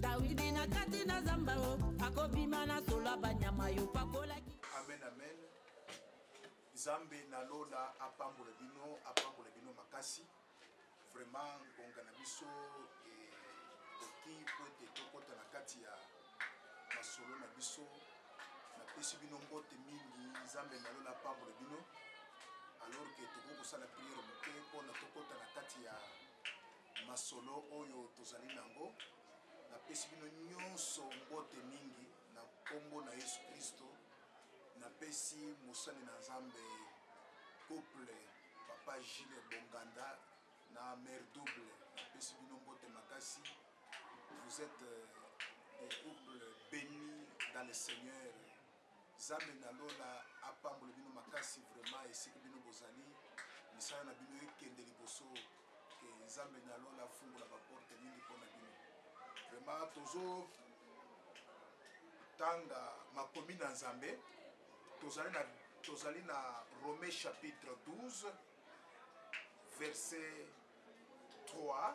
dawidi na kati na zamba o akobima na solo banyama yo pakolaki amen amen nzambe na lola apambola bino apambola bino makasi vraiment ngonga na biso ekoki eh, mpo ete tokɔta na kati ya masolo na biso napesi bino mbote mingi nzambe na lola apambola bino alors ke tokoki kosala priere moke mpona tokɔta na kati ya masolo oyo tozali na yango. Napesi bino nyonso mbote mingi na nkombo na Yesu Klisto. Napesi mosali na Nzambe couple Papa Gilles Bonganda na Mère Double, napesi bino mbote makasi. Vous êtes euh, des couples bénis dans le Seigneur. Zambe na lola apambole bino makasi vraiment esika bino bozali misala na bino ekende liboso que zambe na lola afungola ba porte mingi pona bino vraiment tozo tanga makomi na nzambe tozali na tozali na Romain chapitre 12 verset 3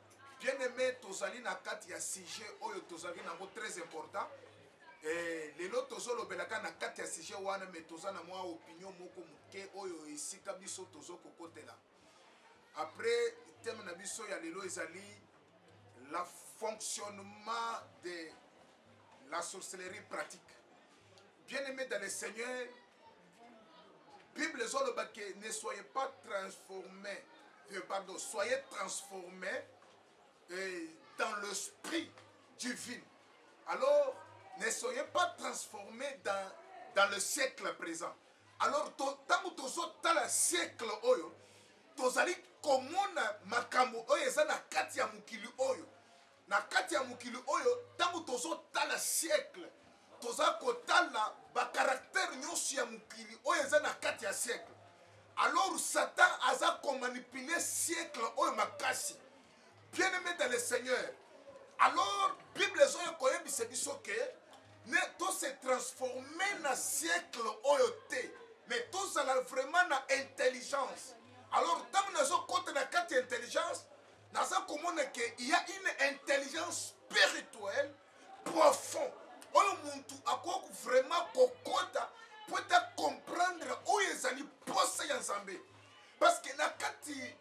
Bien aime tozali na kati ya sujet oyo tozalaki na yango très important eh, lelo tozolobela kaka na kati ya sujet wana mais toza na mwa opinion moko moke oyo esika biso tozo kokotela après thème na biso ya lelo ezali la fonctionnement de la sorcellerie pratique Bien aime dans le Seigneur, Bible ezoloba que ne soyez pas transformé, euh, pardon, soyez transformé euh, dans l'esprit divin. Alors, ne soyez pas transformé dans, dans le siècle présent. Alors, ntango tozotala siècle oyo, tozali komona makambo oyo eza na kati ya mokili oyo Na kati ya mokili oyo, tango tozo tala siècle, toza ko tala ba caractères nionso ya mokili oyo eza na kati ya siècle. Alors Satan aza ko manipuler siècle oyo makasi. Bien aime dans le Seigneur. Alors Bible ezo ya ko yebisa biso que ne to se transformer na siècle oyo te, mais tozala vraiment na intelligence. Alors tango nazo kota na kati ya intelligence, naza komona ke il y a une intelligence spirituelle profond oyo muntu akoki vraiment kokota mpo ete acomprendre oyo ezali mposa ya nzambe parce que na kati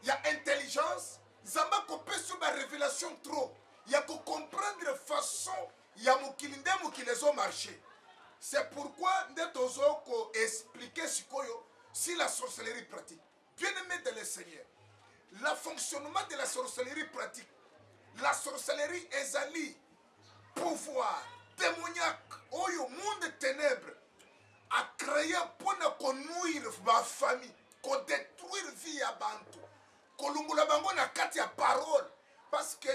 ya intelligence nzambe akopesi yo barévélation trop ya kocomprendre façon ya mokili nde mokili ezo marché c'est pourquoi nde tozo koexplike sikoyo si la sorcellerie pratique Bien aime de le Seigneur, la fonctionnement de la sorcellerie pratique. La sorcellerie ezali pouvoir démoniaque oyo monde ténèbres a créé mpo na konuire bafamille kodétruire vie ya bantu kolongola bango na kati ya parole parce que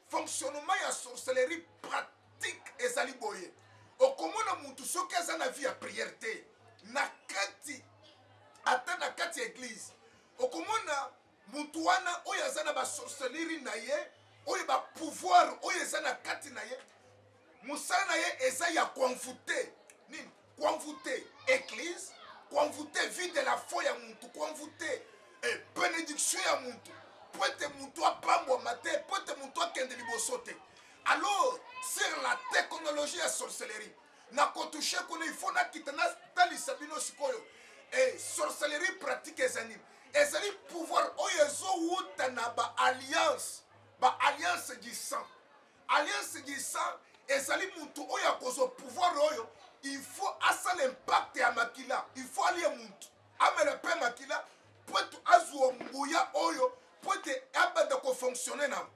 fonctionnement ya sorcellerie pratique Tik ezali boye okomona mutu soki aza na vie ya prière te na kati ata na kati ya eglise okomona mutu wana oyo aza na ba sorcellerie na ye oyo ba pouvoir oyo eza na kati na ye mosala na ye eza ya koenvoute nini Kuanvute eglise, kuanvute vie de la foi ya muntu, kuanvute eh, benediction ya muntu, mpo ete muntu apambwama te, mpo ete muntu akende liboso te. Alors, sur la technologie ya sorcellerie, na kotushe kuna il faut nakita natalisa bino sikoyo eh, sorcellerie pratique ezali nini ezali pouvoir oyo ezowuta na baalliance baalliance du sang Alliance Gisa ezali mutu oyo akozwa pouvoir oyo il faut asala impact ya makila il faut alie mutu amela mpe makila mpo ete azwa nguya oyo mpo ete abanda kofonctionne na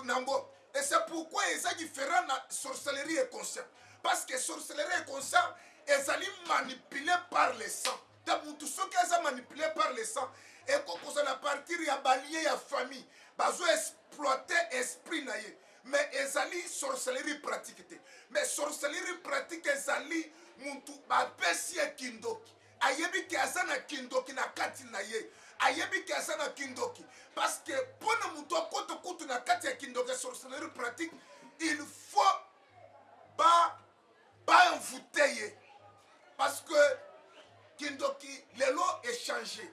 nango et c'est pourquoi eza différent na sorcellerie inconscient parce que sorcellerie inconscient ezali manipule par le sang ta mutu soki aza manipule par le sang eko kozala na partir ya balie ya famille bazo exploite esprit na ye mais ezali sorcellerie pratique te mais sorcellerie pratique ezali mutu bapesi ye kindoki ayebi ke aza na kindoki na kati na ye ayebi ke aza na kindoki parce que mpo na motu akota kutu na kati ya kindoki ya sorcellerie pratique il faut ba ba envoute ye parce que kindoki lelo echange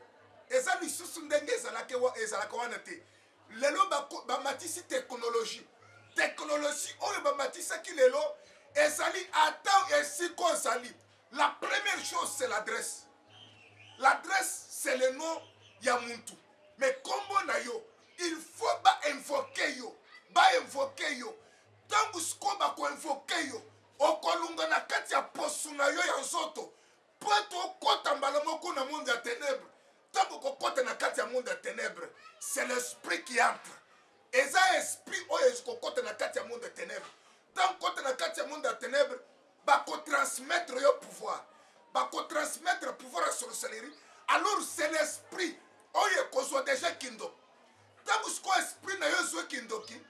eza lisusu ndenge ezalaka wana te lelo bamatisi ba teknologie teknologie oyo bamatisaki lelo ezali ata esika ozali la première chose c'est l'adresse l'adresse c'est le nom ya muntu mais kombo na yo il faut bainvoke yo bainvoke yo Tango sikoyo ba ko invoquer yo, okolunga na kati ya poso na yo ya nzoto mpo ete okota mbala moko na monde ya tenèbres. Tango okokota na kati ya monde ya tenèbres, c'est l'esprit qui entre. Eza esprit oyo ekokota na kati ya monde ya tenèbres. Tango okota na kati ya monde ya tenèbres, bako transmettre yo pouvoir bako transmettre pouvoir ya sorcellerie alors c'est l'esprit oyo ekozwa deja kindoki ntango sikoyo esprit na yo ezwi kindoki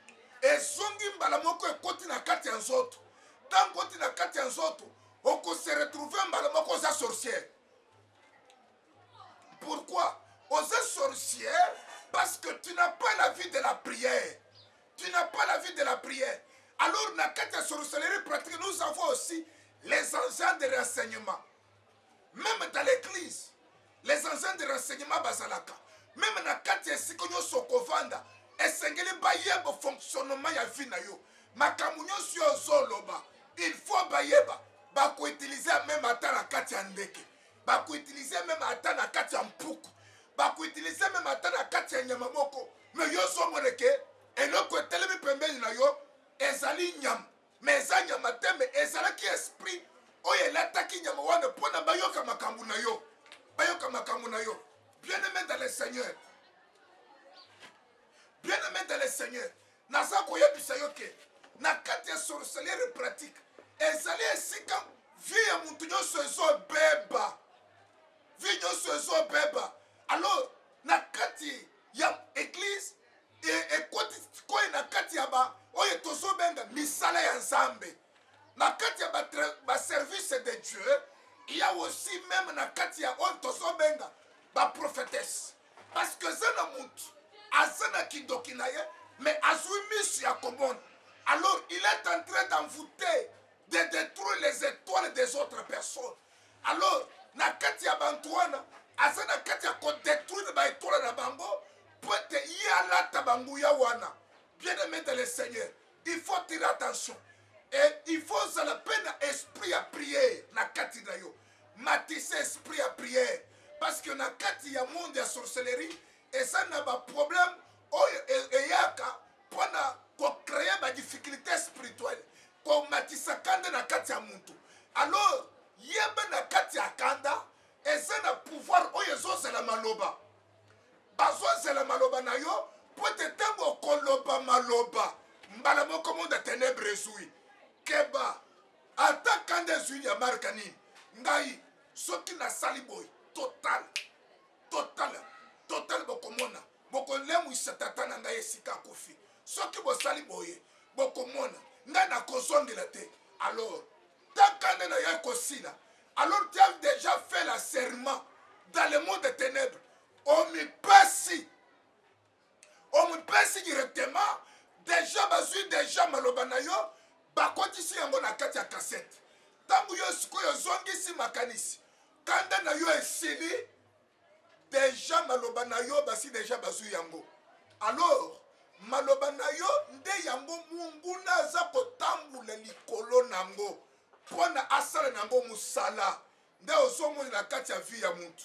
ezongi mbala moko ekoti na kati ya nzoto ntango oti na kati ya nzoto okose retrouve mbala moko oza sorcière pourquoi oza sorcière parce que tu n'as pas la vie de la prière Tu n'as pas la vie de la prière. Alors, na kati ya sorcellerie pratique, nous avons aussi les agents de renseignement. Même dans l'église, les agents de renseignement bazalaka. Même na kati ya esika nyonso okovanda, esengeli bayeba fonctionnement ya vie na yo. Makambo nyonso yo ozoloba, il faut bayeba bakoutilize meme ata na kati ya ndeke. bakoutilize meme ata na kati ya mpuku bakoutilize meme ata na kati ya nyama moko me yo ozomona ke eloko etelemi pembeni na yo ezali nyama me eza nyama te me ezalaki esprit oyo elataki nyama wana mpo na bayoka makambo na yo bayoka makambo na yo bien aimé dans le seigneur bien aimé dans le seigneur Naza koyebisa yo ke na kati ya sorcellerie pratique ezali esika vie ya mutu nyonso ezobeba, vie nyonso ezobeba. Alors na kati ya eglise ekoti koi na kati ya ba oyo tozobenga misala ya Nzambe, na kati ya ba service de Dieu il y a aussi meme na kati ya oyo tozobenga ba prophetesse parce que eza na mutu aza na kindoki na ye mais azwi misu ya komona alors il est en train d'envoûter de détruire les étoiles des autres personnes alors na kati ya bantu wana aza na kati ya kodétruire baetoile na bango mpo ete ye alata banguya wana bien aimé de le seigneur il faut tire attention e il faut ozala mpe na esprit ya priere na kati na yo Matisa esprit ya prière parce que na kati ya monde ya sorcellerie eza na ba problème oyo eyaka pona ko créer ba difficultés spirituelles ko matisa kanda na kati ya mutu alors yeba na kati ya kanda eza na pouvoir oyo ezozela maloba bazozela maloba na yo mpo ete ntango okoloba maloba mbala moko monde ya tenebre ezwi keba ata kanda ezwili ya marka nini ngai soki nasali boye total total total bokomona bokolemwisa tata na ngai esika akufi soki bosali boye bokomona ngai nakozongela te alors taka nde naye kosila alors tu as déjà fait la serment dans le monde de ténèbres omipesi omipesi directement deja bazwi deja maloba na yo bakotisi yango na kati ya kasete ntango yo sikoyo ozongisi makanisi kanda na yo esili deja maloba na yo basi deja bazwi yango alors maloba na yo nde yango monguna aza kotambola likolo na yango mpo na asala na yango mosala nde ozomoni na kati ya vi ya motu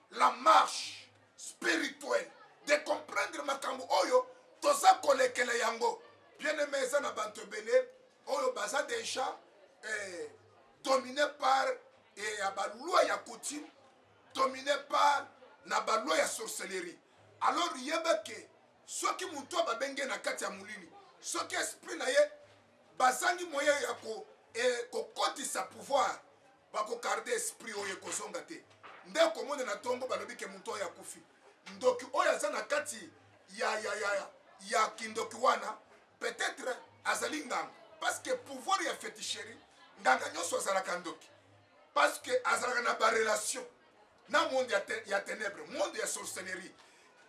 la marche spirituelle de comprendre makambo oyo toza kolekela yango bien aime eza na bato ebele oyo baza deja eh, domine par eh, ya baloi ya coutume domine par na baloi ya sorcellerie alors yeba ke soki moto oyo babenge na kati ya molili soki esprit na ye bazangi moye ya kokotisa eh, pouvoir Bako carde esprit oyo ekozonga te nde okomona na tongo balobi ke mutu oyo akufi ndoki oyo aza na kati ya ya ya ya ya kindoki wana peut-etre azali nganga parce que pouvoir ya feticherie nganga nyonso azalaka ndoki parce que azalaka na ba relation na monde ya, te, ya ténèbre monde ya sorcellerie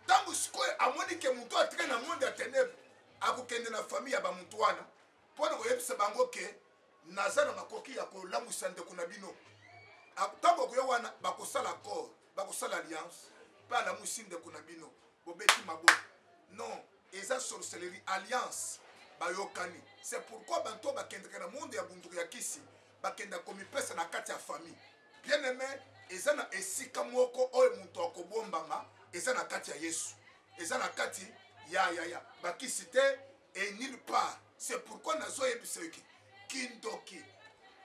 ntango sikoyo amoni ke moto atika na monde ya ténèbre akokende na famille ya bamoto wana mpo na koyebisa bango ke naza na makoki ya kolamwisa ndeko na bino ntango akoya wana bakosala accord bakosala alliance mpe alamwisi ndeko na bino bobeti maboko non eza sorcellerie alliance bayokani c'est pourquoi bantu oyo bakendaka na monde ya bunduku ya kisi bakenda komipesa na kati ya famille bien aime eza na esika moko oyo moto akobombama eza na kati ya yesu eza na kati ya ya ya bakisi te et nulle part C'est pourquoi nazo yebisa yo ke kindoki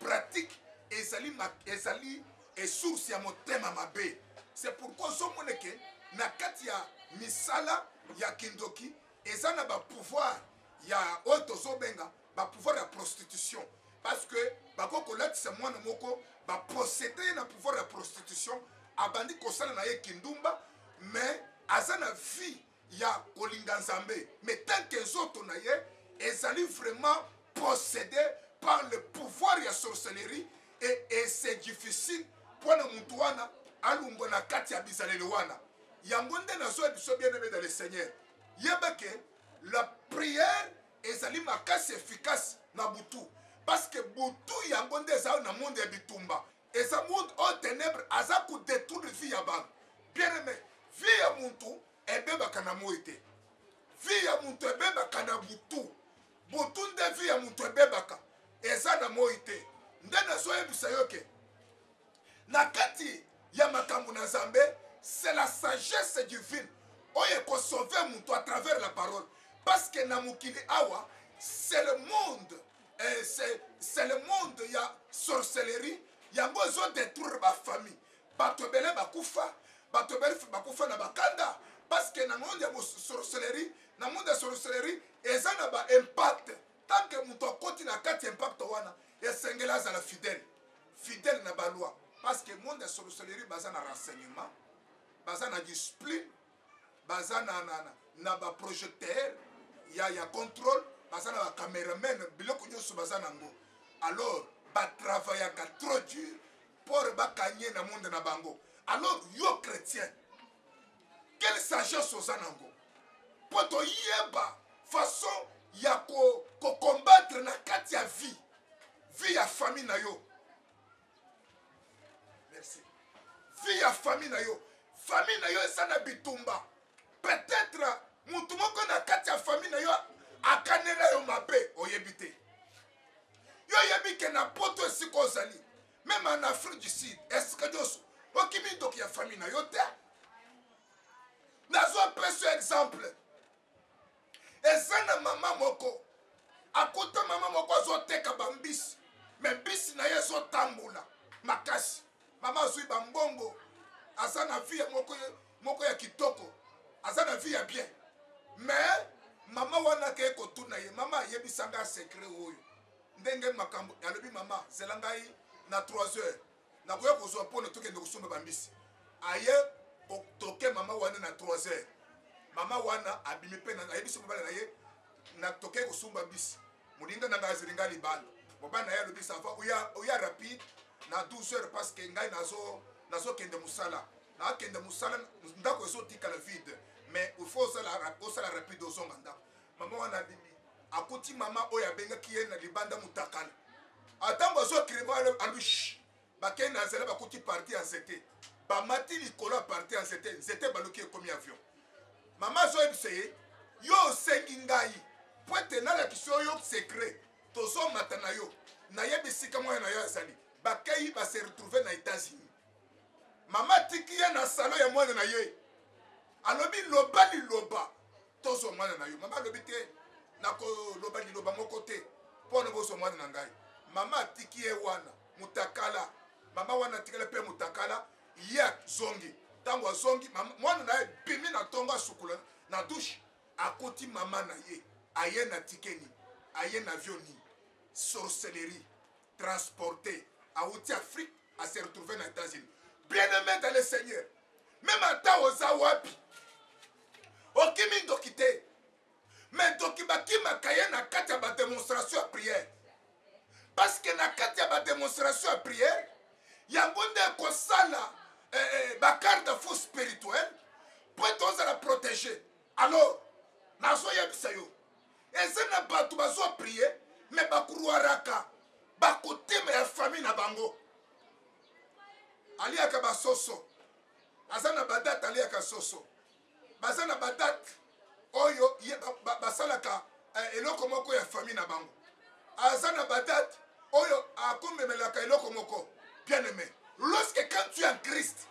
pratique ezali ezali et source ya motema mabe. C'est pourquoi ozo mona ke na kati ya misala ya kindoki eza na ba pouvoir ya oyo tozo benga ba pouvoir ya prostitution parce que bako kolatisa mwana moko ba procede ye na pouvoir ya prostitution abandi kosala na ye kindumba mais aza na vie ya kolinga nzambe mais tant que nzoto na ye ezali vraiment possédé par le pouvoir ya sorcellerie et, et c'est difficile mpo na motu wana alongwa na kati ya bizaleli wana yango nde nazoya biso bien aimé dans le seigneur yeba ke la prière ezali makasi efficace na butu parce que butu yango nde eza na monde ya bitumba Eza monde oyo tenèbres aza ko detruire vie ya batu bien aime vie ya mutu ebebaka na moyi te vie ya mutu ebebaka na butu butu nde vie ya mutu ebebaka eza na moyi te nde nazoyebisa yo ke na kati ya makambo na nzambe c'est la sagesse divine oyo ekosauve mutu à travers la parole parce que na mokili awa c'est le monde eh, c'est le monde ya sorcellerie yango ezo détruire ba famille bato ebele bakufa bato ebele bakufa na bakanda parce que na monde ya sorcellerie na monde ya sorcellerie eza na ba impact tant que moto akoti na kati ya impact wana esengeli azala fidèle fidèle na baloi parce que monde ya sorcellerie baza na renseignement baza na discipline baza na, na, na, na ba projecteur ya, ya contrôle baza na ba cameraman biloko nyonso baza nango alors batravayaka trop dur pore bakanye na monde na bango alors yo chrétien quelle sagesse oza nango mpo toyeba façon ya kokombatre ko na kati ya vie vie ya famille na yo merci vie ya famille na yo famille na yo eza na bitumba peut-être motu moko na kati ya famille na yo akanela yo mabe oyebi te yo oyebi ke na poto esika ozali meme en afrique du sud esika nyonso okimi ndoki ya famille na yo te nazwa peso exemple eza na mama moko akuta mama moko azoteka bambisi me mbisi na ye ezotambola makasi mama azwi bambongo aza na vie moko, moko ya kitoko aza na vie ya bien me mama wana akei kotuna ye mama ayebisa ngai secret oyo ndenge makambo alobi mama zela ngai na 3 heures nakoya kozwa mpo na tokende kosomba bambisi aye toke mama wana na 3 heures mama wana abimi mpe ayebisi mobali na ye na tokei kosomba mbisi moninga na ngai azeli ngai libanda mobali na ye alobi sava oya rapide na 12 heures parce que ngai nazokende mosala nakende mosala ndako ezotikala vide mais il faut osala rapide ozonga ndako Maman wana abimi akuti maman oyo abengaki ye na libanda mutakala atango azua crevant alobi shh bakei na nzela bakuti parti ya nzete bamati likolo ya parti ya nzete nzete baluki ekomi avion maman azoyebisa ye yo osengi ngai po ete nalakisi oyo secret tozomata na yo nayebi esika mwana na yo azali bakei base retrouve na etats-unis mama atiki ye na salo ya mwana na ye alobi loba liloba Tozwa mwana na yo. Mama alobi te, nakoloba liloba moko te mpo na bozwa mwana na ngai. Mama atiki ye wana mutakala. Mama wana atikala mpe mutakala, ye azongi. Ntango azongi, mwana na ye bimi na ntongo, asukula na dushe, akuti mama na ye aye na tike nini, aye na avion nini? Sorcellerie. transporte awuti afrique a se retrouver na etats unis bien aime dans le seigneur meme ata oza wapi okimi ndoki te me ndoki bakimaka ye na kati ya bademonstration ya priere parceke na kati ya bademonstration ya priere yango nde ekosala eh, eh, bacarde fou spirituel mpo ete ozala protege alors nazoyebisa yo eza na bato bazo prie me bakruaraka bakotema ya famille na bango aliaka basoso aza na badate aliaka soso baza na badate oyo basalaka ba, ba eh, eloko moko ya famille na bango aza na badate oyo akomemelaka eloko moko bien aimé lorsque quand tu es en christ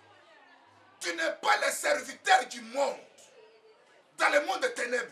tu n'es pas le serviteur du monde dans le monde ténèbre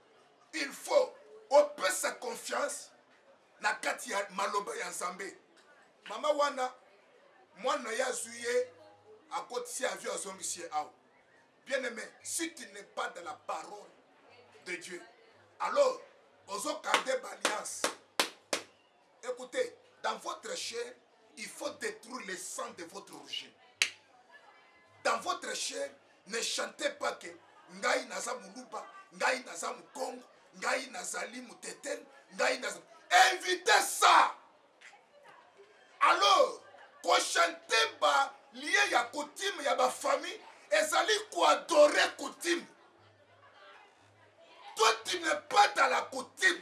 Il faut opesa confiance na kati ya maloba ya Nzambe. Mama wana mwana na ye azwi ye akotisi avion azongisi ye awa. Bien aimé, si tu n'es pas dans la parole de Dieu, alors ozo garder ba alliance. Ecoutez dans votre chair il faut detruire le sang de votre origine dans votre chair ne chantez pas que ngai naza muluba ngai naza mukongo ngai nazali muteten ngai naza évitez ça alors kochante ba lie ya coutume ya bafamille ezali koadore coutume toi tu ne pas dans la coutume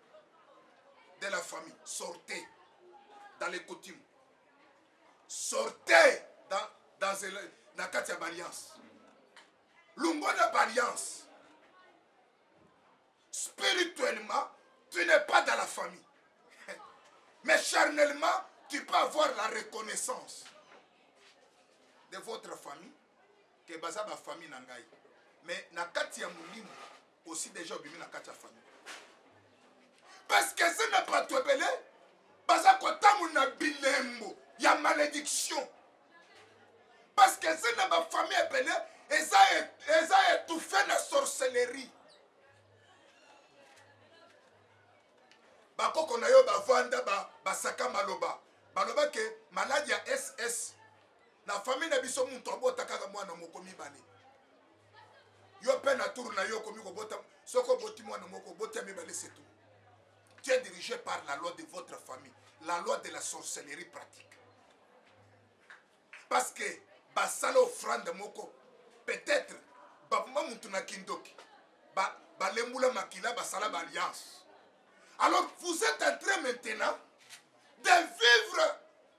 de la famille sortez dans les coutumes sortez dans, dans na kati ya baalliance longwa na baalliance spirituellement tu n'es pas dans la famille mais charnellement tu peux avoir la reconnaissance de votre famille ke baza bafamille na ngai mais na kati ya molimo osi deja obimi na kati ya famille parce que eza na bato ebele baza kotambola na bilembo ya malédiction parce que eza na bafamille ebele eza e, étouffé na sorcellerie bakoko na yo bavanda basaka maloba baloba ke maladi ya ss na famille na biso moto abota kaka mwana moko mibale yo pe na tour na yo okomi kobota soki oboti mwana moko oboti ya mibale setu tu es dirigé par la loi de votre famille la loi de la sorcellerie pratique parce que basala offrande moko peut-être baboma mutu na kindoki balembula makila basala baalliance alors vous êtes en train maintenant de vivre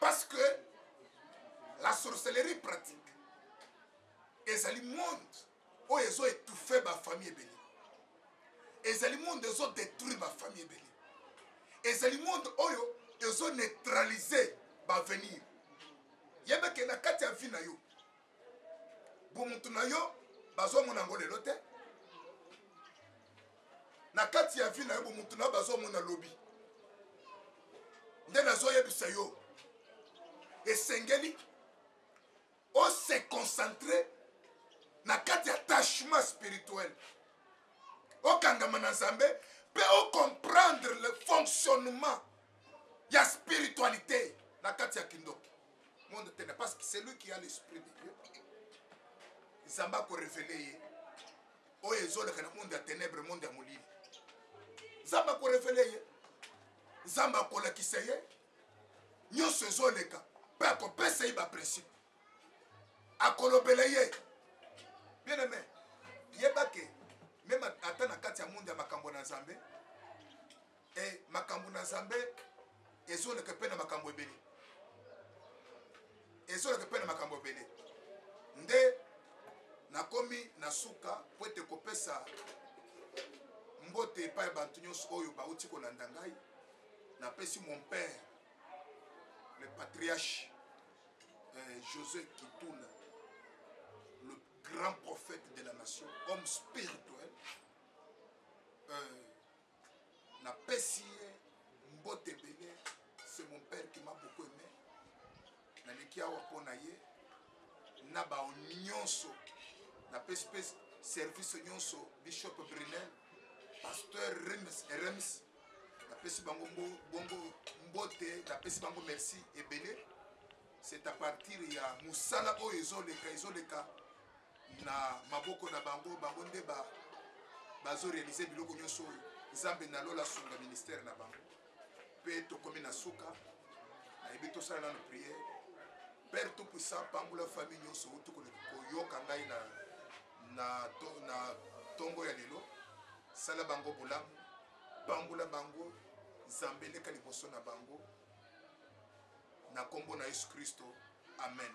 parce que la sorcellerie pratique ezali monde oyo ezo étouffe bafamille ebele ezali monde ezo détruire bafamille ebele ezali monde oyo ezo neutralise baavenir yebeke na kati ya vie na yo bomutu na yo bazomona yango lelo te na kati ya vi na yo bomutu na yo bazomona lobi nde nazoyebisa yo esengeli ose concentre na kati ya tachement spirituel okangama na nzambe mpe ocomprendre le fonctionnement ya spiritualité na kati ya kindoki monde tene parce que celui qui a l'esprit de dieu nzambe akorevele ye oyo ezoleka na monde ya ténèbre monde ya molili nzambe akorevele ye nzambe akolakisa ye nyonso ezoleka mpe akopesa ye baprincipe akolobela ye bien aime yebake meme ata na kati ya monde ya makambo na nzambe Et makambo na Nzambe ezoleka pe na makambo ebele. Ezoleka pe na makambo ebele. Nde nakomi na suka po ete kopesa mbote epai ya bato nyonso oyo bauti kolanda ngai. Napesi mon père le patriarche euh, José Kituna, le grand prophète de la nation, homme spirituel. Euh, na pesi ye mbote ebele c'est mon père qui m'a beaucoup aimé na leki awa mpo na ye na ba nyonso na pesi pe service nyonso bishop Brunel pasteur Rems Rems na pesi bango bongo mbote na pesi bango merci ebele C'est à partir ya musala oyo ezo leka ezo leka na maboko na bango bango nde ba bazo realiser biloko nyoso oyo Nzambe na lola sunga ministère na bango pe tokomi na suka na yebi tosala na no prière Père tout puissant pambola famille nyoso utu koyoka ngai na na to, na tongo ya lelo sala bango bolamu pambola bango Nzambe leka liboso na bango na kombo na yesu christo amen.